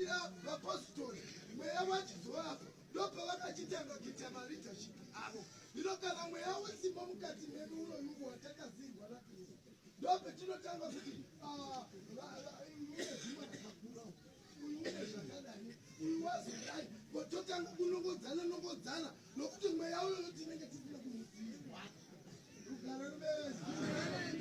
Ira vapositori mweya wachizovapo ndopavakachitanga kuita maleadership avo ino kana mweya wesimba mukati medu unoyungu watakazirwa nakristu ndopetinotanga kuti ah, mune zvimwe rakakura uyu une zvakadai uyu wazodai kototanga kunongodzana nongodzana nokuti mweya uyoyo tinenge tisina kumuziva rugaro ruveve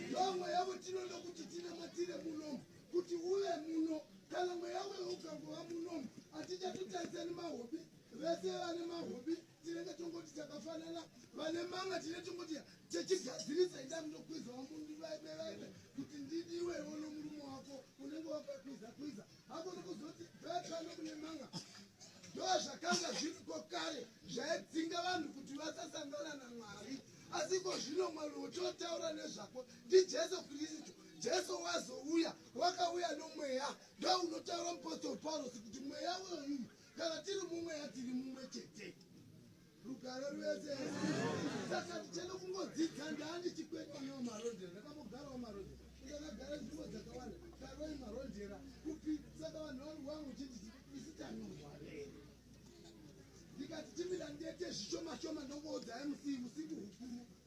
ndomweya wetinoda kuti tinamatire munomu kuti uve muno kana mweya wewe ukangova munomu hatichatutaisani mahobi vese vane mahobi tinenge tongoti takafanana vane manga tine tongoti techigadzirisa ida munokwizawa mundi vaive vaive kuti ndidi iwewo nomurume wako unenge wakakwiza kwiza hako nokuzoti vepano kune manga ndo zvakanga zviriko kare zvaidzinga vanhu kuti vasasangana namwari asi ko zvino mwari wototaura nezvako ndijesu kristu Jesu wazouya wakauya nomweya ndounotaura mupostori Paulosi kuti mweya uyoyu kana tiri mumweya tiri mumwe chete rugare rwese saka tichene kungodzidza ndani chikwekwa nawo marondera ndakambogarawo marondera ndakagara nzvimbo dzakawanda karoi marondera kupi saka vanhu vangu vangu chiti isi tanorwarei ndikati timira ndete zvishoma shoma ndongoudzai musivi usiku hukuru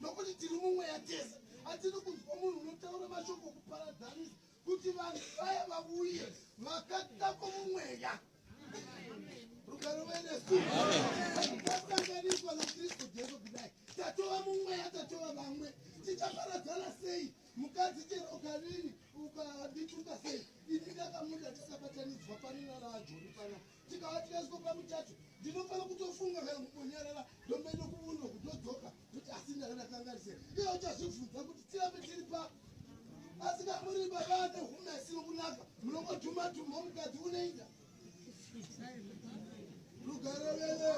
nokuti tiri mumweya tese hatiri kunzwa munhu unotaura mashoko okuparadzanisa kuti vanhu vaya vavuye vakata kwomumweya rugaro venesu tasanganiswa nakristu jesu kudai tatova mumweya tatova vamwe tichaparadzana sei mukadzi chero ukarini ukadituka sei ini ndakamuda takabatanidzwa pano nana ajoni panapa ndikavatyazi kopa muchacho ndinofana kutofunga kana kumbonyarara ndombaenda kuvundo kutodzoka kuti asi ndakadakangarise iye uchazvibvunza kuti tirambe tiri pa asi kamuri baba ane humesi rokunaka munongodhuma dhuma mukadzi uneida rugare veve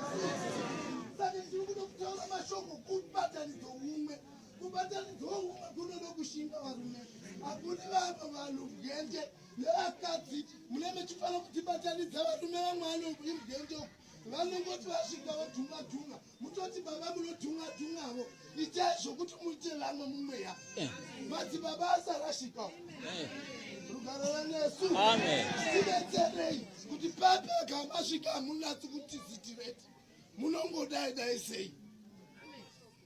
saka ndiri kuda kutaura mashoko kubatanidzo umwe kubatanidzo umwe kunoda kushinga varume hakuni vamwe vanhu gende nevakadzi mune mechifanira kutibatanidza varume vamwe anoku imugende uku vanongoti vasvika vodhunga dhunga mutoti baba munodhunga dhungavo itai zvokuti muite vamwe mumweya eh. madzi baba asarashika eh. rugaro vanesu tibetserei kuti papi akamasvika hamunatsi kuti zitireti munongodai dai sei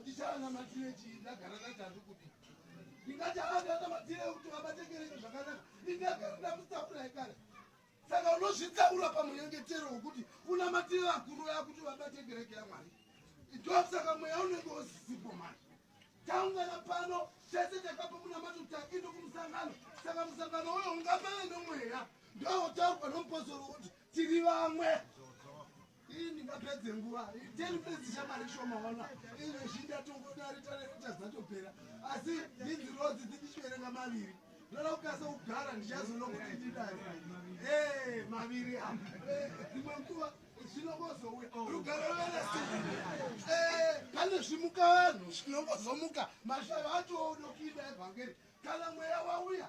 Ndichaanamatire chii ndagara naTavi kudii? Ndingati haanamatire kuti vabate kereke zvakanaka. Ndingagara ndamutakura ekare. Saka unozvitaura pamunyengetero wokuti unamatire vakuru vaya kuti vabate kereke yaMwari. Ndosaka mweya unenge usisipo manje. Taungana pano tese takapo munamato takindo kumusangano. Saka musangano uyo ungapave nomweya. Ndowotaurwa nomupozoro kuti tiri vamwe. Iyi ndingapedze nguva 10 minutes chamari shoma wana izvo zvindatongodaritareita zatopera asi idzi rozi dzitichiverenga maviri ndoda kukasa kugara ndichazoona kuti ndidari e maviri a dzimwe nguva zvinongozouya oh. rugare rweresi pane zvimuka vanhu zvinongozomuka mashava atoodokida evhangeri kana mweya wauya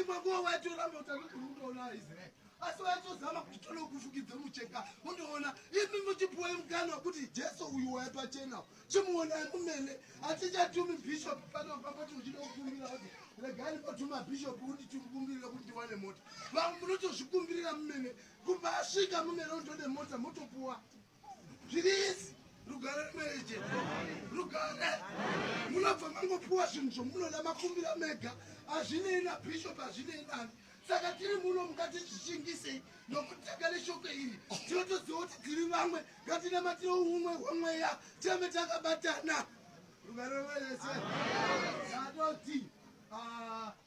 imwe nguva waitoramba kuti anogona kutoona aisraeri asi waitozama kuti tonokufukidza mucheka undoona imi muchipuwa mukana wekuti jesu uyu waya pachena chimuonai mumene hatichatumi bishop pano pamboti uchida kukumbira kuti regani patuma bishop kuti tikukumbirira kuti ndiwane mota vamwe munotozvikumbirira mumene kubva asvika mumene undode mota motopuwa zviriizi rugare rwemene chete rugare munobva mangopiwa zvinhu zvomunoda makumbira mega hazvinei nabishop hazvinei nani saka tiri muno mukati zvichingisei nokutanga neshoko iri tinotoziva kuti tiri vamwe ngatinamatire umwe hwemweya tirambe takabatana rugare rwemene chete zvatoti ah,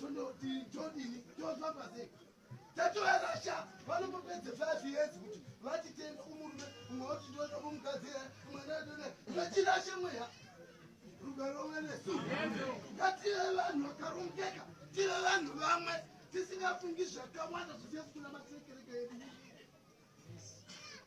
Tondodii todini tofamba sei tatovarasha vanombopedze five years kuti vatitenda kumurume umwe woti ndoda kumugadzira mwana adona vatirashe mweya rugaro mwenesu ngative vanhu vakarongeka tive vanhu vamwe tisingafungi zvakawanda zvisiye sikuna matekereke edu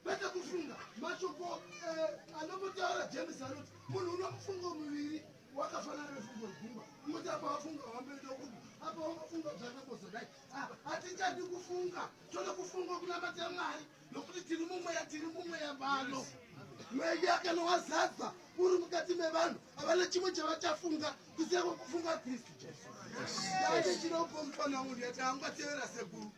kwete kufunga mashoko eh, anombotaura james anoti munhu unomufungo muviri wakafanana nefungo gumba kuti apa wafunga wambedo kupi apa wamafunga zvanambozodai ah, hatichadi kufunga tode kufunga kunamata mwari nokuti tiri mumweya tiri mumweya vano mweya kana wazadza uri mukati mevanhu havana chimwe chavachafunga kuziva kwekufunga kristu jesu yaite chiropo mufana uyu yati angatevera sekuru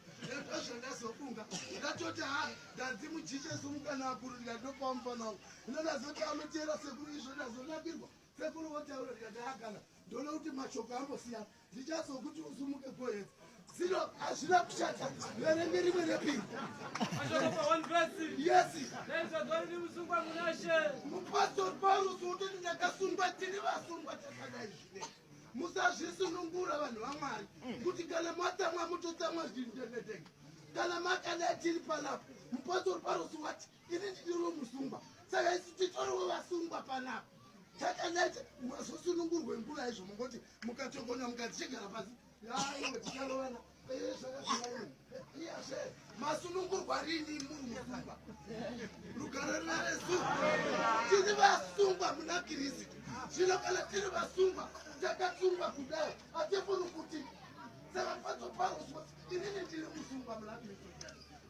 ndozvo ndazofunga ndatoti ha ndanzi mujiche sumukana akuru ndikatopawo mufana uyu ino ndazoti anotevera sekuru izvo ndazonakirwa sekuru votaura ndikati hakana ndoona kuti mashoko ambosiyana ndichazokuti usumuke goedza Zino hazvina kushata verenge rimwe repiri. Yes. Mupostori Paulusi wototi ndakasungwa tiri vasungwa takadai zvine. Musazvisunungura vanhu vaMwari kuti kana matsamwa mutotsamwa zvindenetenge. Kana makadai tiri panapa mupostori Paulusi wati ini ndidiro musungwa saka isu titoriwo vasungwa panapa takadai mazosunungurwe nguva izvo mongoti mukatokona mukati chigara pasi masunungurwa rini munhu musungwa rugare naresu tiri vasungwa muna kirisitu zvino kana tiri vasungwa takasungwa kudai hatifuni kuti savafazoparuswa inini ndiri musungwa muna kirisitu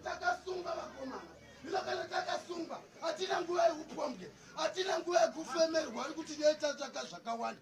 takasungwa vakomana zvino kana takasungwa hatina nguva yekupombwe hatina nguva yekufemerwa ri kuti netatsvaka zvakawanda